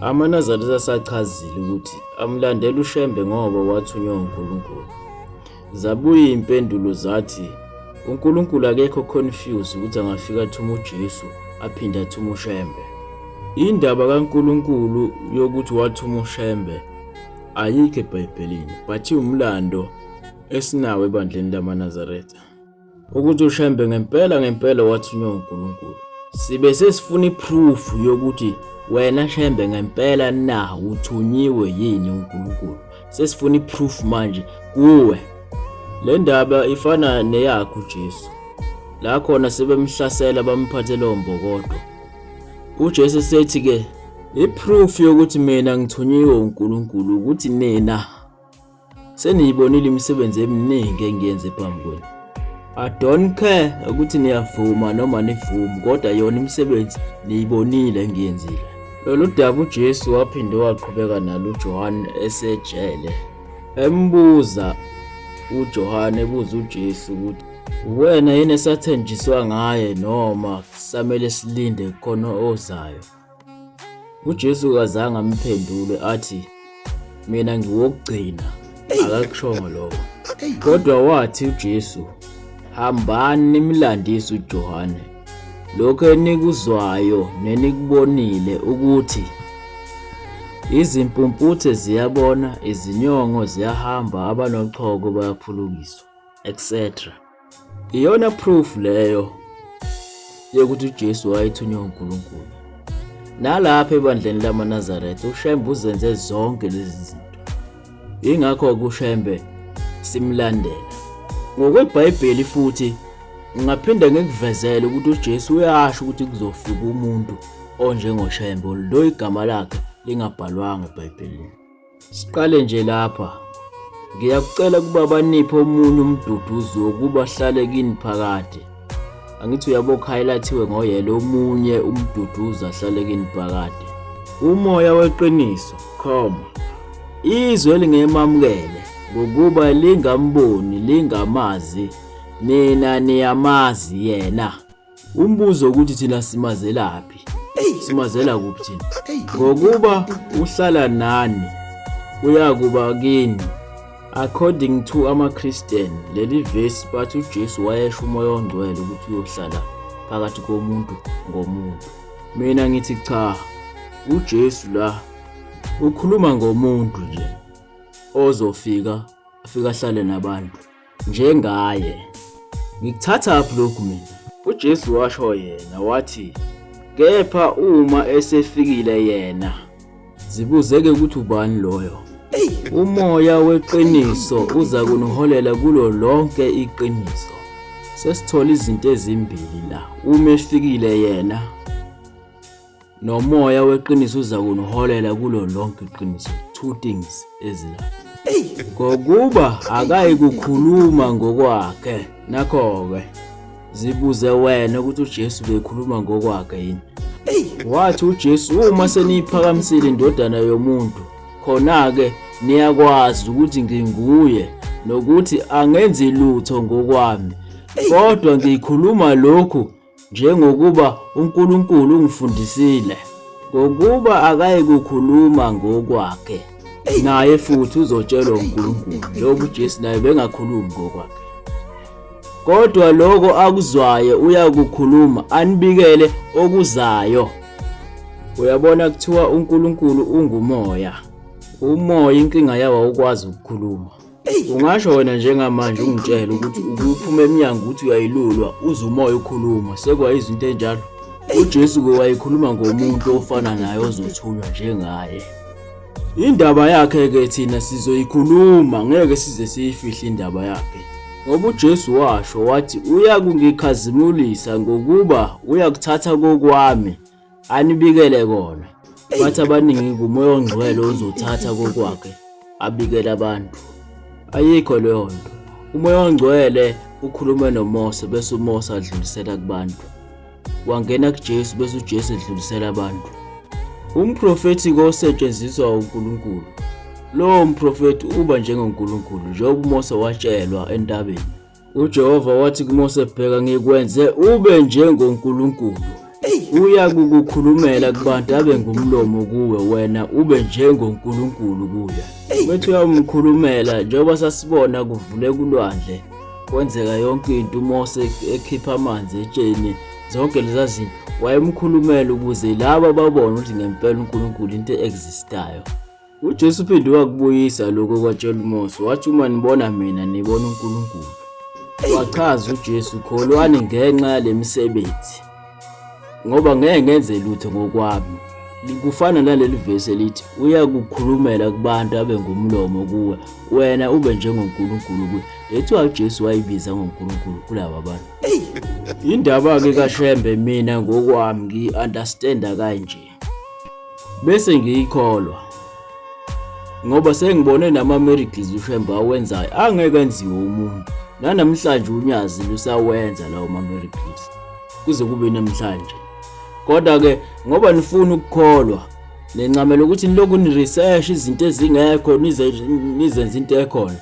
AmaNazaretha asachazile ukuthi amlandela uShembe ngoba wathunywa uNkulunkulu. Zabuya impendulo zathi uNkulunkulu akekho confused ukuthi angafika athuma uJesu aphinde athuma uShembe. Indaba kaNkulunkulu yokuthi wathuma uShembe ayikho eBhayibhelini but iwumlando esinawo ebandleni lamaNazaretha. ukuthi uShembe ngempela ngempela wathunywa uNkulunkulu. Sibe sesifuna iproof yokuthi wena Shembe ngempela na uthunyiwe yini uNkulunkulu. Sesifuna iproof manje kuwe. Le ndaba ifana neyakho Jesu. La khona sebemhlasela bamphathela ombokodo. UJesu sethi ke iproof yokuthi mina ngithunyiwe uNkulunkulu ukuthi nina Seniyibonile imisebenzi eminingi engiyenze phambi kwenu. I don't care ukuthi niyavuma noma nivumi kodwa yona imisebenzi niyibonile engiyenzile. Lolu daba uJesu waphinde waqhubeka nalo uJohane esejele. Embuza uJohane ebuza uJesu ukuthi uwena yini esathenjiswa ngaye noma samele silinde khona ozayo. uJesu kazange amphendule athi mina ngiwokugcina akakushongo lokho kodwa wathi uJesu hambani nimlandise uJohane lokho enikuzwayo nenikubonile ukuthi izimpumputhe ziyabona izinyongo ziyahamba abanochoko bayaphulukiswa etc Iyona proof leyo yokuthi uJesu wayethunywa uNkulunkulu. Nalapha ebandleni lamaNazaretha uShembe uzenze zonke lezi zinto. Ingakho kuShembe simlandela. NgokweBhayibheli futhi ngaphinde ngikuvezele ukuthi uJesu uyasho ukuthi kuzofika umuntu onjengoShembe lo igama lakhe lingabhalwanga eBhayibhelini. Siqale nje lapha. Ngiyakucela ukuba baniphe omunye umduduzi wokuba ahlale kini phakade. Angithi uyabo highlightiwe ngoyele omunye umduduzi ahlale kini phakade. Umoya weqiniso, comma. Izwe elingemamukele ngokuba lingamboni, lingamazi. Nina niyamazi yena. Umbuzo ukuthi thina simazelaphi? Simazela kuphi thina? Ngokuba uhlala nani uyakuba kini. According to amaChristian, leli verse bathi uJesu wayesho umoya ongcwele ukuthi uyohlala phakathi komuntu ngomuntu. Mina ngithi cha, uJesu la ukhuluma ngomuntu nje ozofika afika ahlale nabantu. njengaye. Ngikuthathaphi lokhu mina? UJesu washo yena wathi, Kepha uma esefikile yena, zibuzeke ukuthi ubani loyo. Umoya weqiniso uza kuniholela kulo lonke iqiniso. Sesithola izinto ezimbili la, uma efikile yena Nomoya weqiniso uzakuniholela kulo lonke iqiniso. Two things ezilandelayo. Ngokuba akayi kukhuluma ngokwakhe. Nakho-ke zibuze wena ukuthi uJesu bekhuluma ngokwakhe yini. Wathi uJesu uma seniyiphakamisile indodana yomuntu khona-ke niyakwazi ukuthi nginguye nokuthi angenzi lutho ngokwami kodwa ngikhuluma lokhu njengokuba uNkulunkulu ungifundisile, ngokuba akayikukhuluma ngokwakhe, naye futhi uzotshelwa uNkulunkulu, njengoba uJesu naye bengakhulumi ngokwakhe. Kodwa lokho akuzwayo uyakukhuluma, anibikele okuzayo. Uyabona kuthiwa uNkulunkulu ungumoya. Umoya inkinga yawo awukwazi ukukhuluma. ungasho wena njengamanje ungitshele ukuthi ukuphuma emnyango ukuthi uyayilulwa uze umoya ukhuluma sekwayizwa into enjalo ujesu-ke wayekhuluma ngomuntu ofana naye ozothulwa njengaye indaba yakhe-ke thina sizoyikhuluma ngeke size siyifihle indaba yakhe ngoba uJesu washo wathi uyakungikhazimulisa ngokuba uyakuthatha kokwami anibikele kona bathi abaningi ngumoya ongcwele ozothatha kokwakhe abikele abantu ayikho leyo nto umoya ongcwele ukhulume nomose bese umose adlulisela kubantu wangena kujesu bese ujesu edlulisela abantu umprofethi kosetshenziswa unkulunkulu lowo mprofethi uba njengonkulunkulu njengoba umose watshelwa entabeni UJehova wathi kuMose, Bheka, ngikwenze ube njengoNkulunkulu. Uya kukukhulumela kubantu abe ngumlomo kuwe, wena ube njengoNkulunkulu kuye. Methi uyawumkhulumela, njengoba sasibona kuvule kulwandle, kwenzeka yonke into, uMose ekhipha amanzi etsheni, zonke leza zinto wayemkhulumela ukuze laba babone ukuthi ngempela uNkulunkulu into e-existayo. UJesu uphinde wakubuyisa lokho okwatshela uMose, wathi uma nibona mina nibona uNkulunkulu. Wachaza uJesu, kholwani ngenxa yale misebenzi, ngoba ngeke ngenze lutho ngokwami. Kufana naleli vesi elithi uyakukhulumela kubantu abe ngumlomo kuwe, wena ube njengoNkulunkulu kuye. Lethiwa uJesu wayibiza ngoNkulunkulu kulaba bantu. Indaba-ke kaShembe mina ngokwami ngiyi-understanda kanje. bese ngiyikholwa ngoba sengibone nama-miracles ushembe awenzayo angeke enziwe umuntu nanamhlanje unyazi lusawenza lawo ma-miracles kuze kube namhlanje kodwa-ke ngoba nifuna ukukholwa nencamela ukuthi nilokhu ni-research izinto ezingekho nizenze into ekhona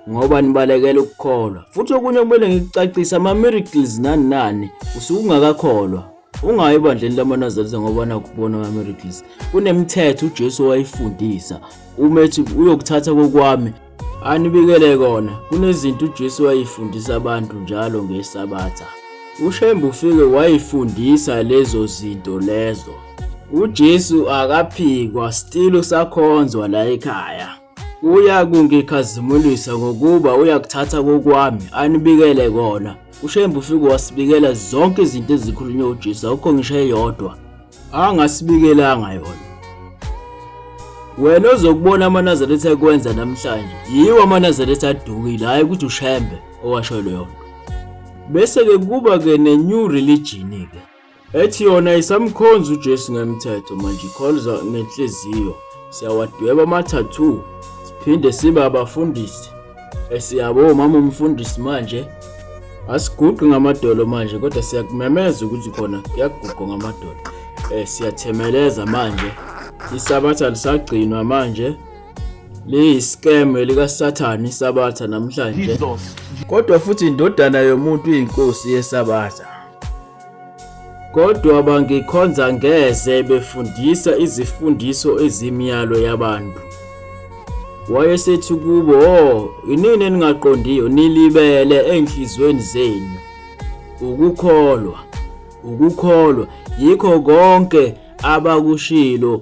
ngoba nibalekela ukukholwa futhi okunye kumele ngikucacise ama-miracles nani nani usuke ungakakholwa ungayi ebandleni lamanazarisa ngoba nakubona abamericles kunemithetho ujesu owayifundisa uma ethi uyokuthatha kokwami anibikele kona kunezinto ujesu wayifundisa abantu njalo ngesabatha ushembe ufike wayifundisa lezo zinto lezo ujesu akaphikwa still usakhonzwa la ekhaya Uyakungikhazimulisa ngokuba uyakuthatha kokwami anibikele kona. UShembe ufike wasibikela zonke izinto ezikhulunywe uJesu akukho ngisho eyodwa angasibikelanga yona. Wena ozokubona amaNazaretha ekwenza namhlanje yiwo amaNazaretha adukile hhayi ukuthi uShembe owasho leyo nto. Bese-ke kuba-ke ne-new religion-ke. ethi yona isamkhonza uJesu ngemthetho manje ikhonza ngenhliziyo siyawadweba ama-tattoo siphinde sibe abafundisi esiyabo mama umfundisi manje asiguqi ngamadolo manje kodwa siyakumemeza ukuthi khona kuyaguqwa ngamadolo um siyathemeleza manje isabatha lisagcinwa manje liyiscam likasathane isabatha namhlanje kodwa futhi indodana yomuntu iyinkosi yesabatha Kodwa bangikhonza ngeze befundisa izifundiso ezimiyalo yabantu. Wayesethi kubo, "Oh, inini eningaqondiyo nilibele enhlizweni zenu. Ukukholwa, ukukholwa yikho konke abakushilo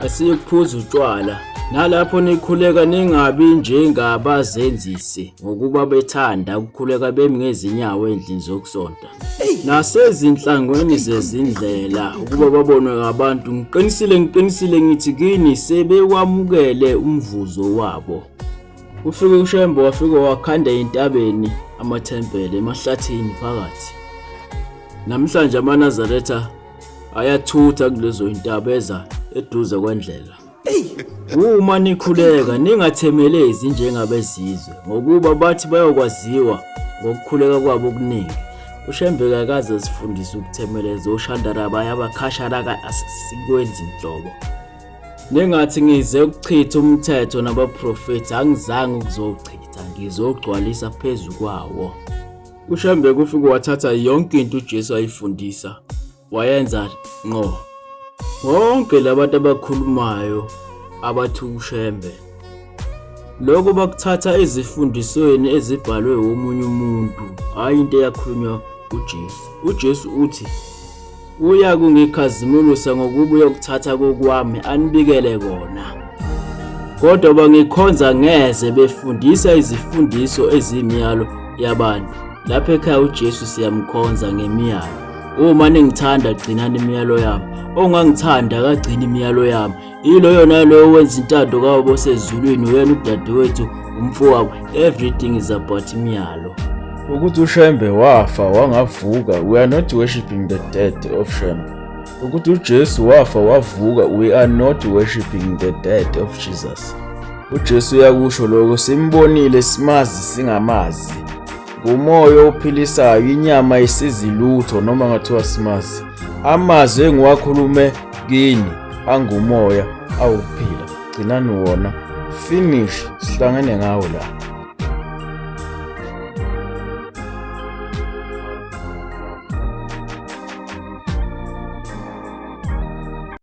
asiyokuphuza utshwala nalapho nikhuleka ningabi njengabazenzisi ngokuba bethanda ukukhuleka bemi ngezinyawo endlini zokusonta nasezinhlangweni zezindlela ukuba babonwe ngabantu ngiqinisile ngiqinisile ngithi kini sebewamukele umvuzo wabo ufike ushembe wafike wakhanda entabeni amathempele emahlathini phakathi namhlanje amanazaretha ayathutha kulezo intaba eza eduze kwendlela uma nikhuleka ningathemelezi njengabezizwe ngokuba bathi bayokwaziwa ngokukhuleka kwabo okuningi ushembeka akaze zifundise ukuthemeleza oshandara bayabakhashara sikwenzi nhlobo nengathi ngize ukuchitha umthetho nabaprofethi angizange ukuzowuchitha ngizogcwalisa phezu kwawo UShambeko ufike wathatha yonke into uJesu ayifundisa wayenza nqo. Bonke labantu abakhulumayo abathi uShembe lokho bakuthatha ezifundisweni ezibhalwe womunye umuntu, hhayi into eyakhulunywa uJesu. UJesu uthi Uya kungikhazimulisa ngokuba uyokuthatha kokwami anibikele kona. Kodwa bangikhonza ngeze befundisa izifundiso ezimiyalo yabantu. Lapha ekhaya uJesu siyamkhonza ngemiyalo. Uma ningithanda gcinani imiyalo yami. Ongangithanda akagcini imiyalo yami. yiloyo naloyo wenza intando kawabo osezulwini uyena udadewethu umfowabo everything is about imiyalo ukuthi ushembe wafa wangavuka we are not worshiping the dead of shembe ukuthi ujesu wafa wavuka we are not worshiping the dead of jesus ujesu uyakusho lokho simbonile simazi singamazi ngumoya ophilisayo inyama isizi lutho noma ngathiwa simazi amazwi engiwakhulume kini angumoya awukuphila gcinani wona finish sihlangene ngawo la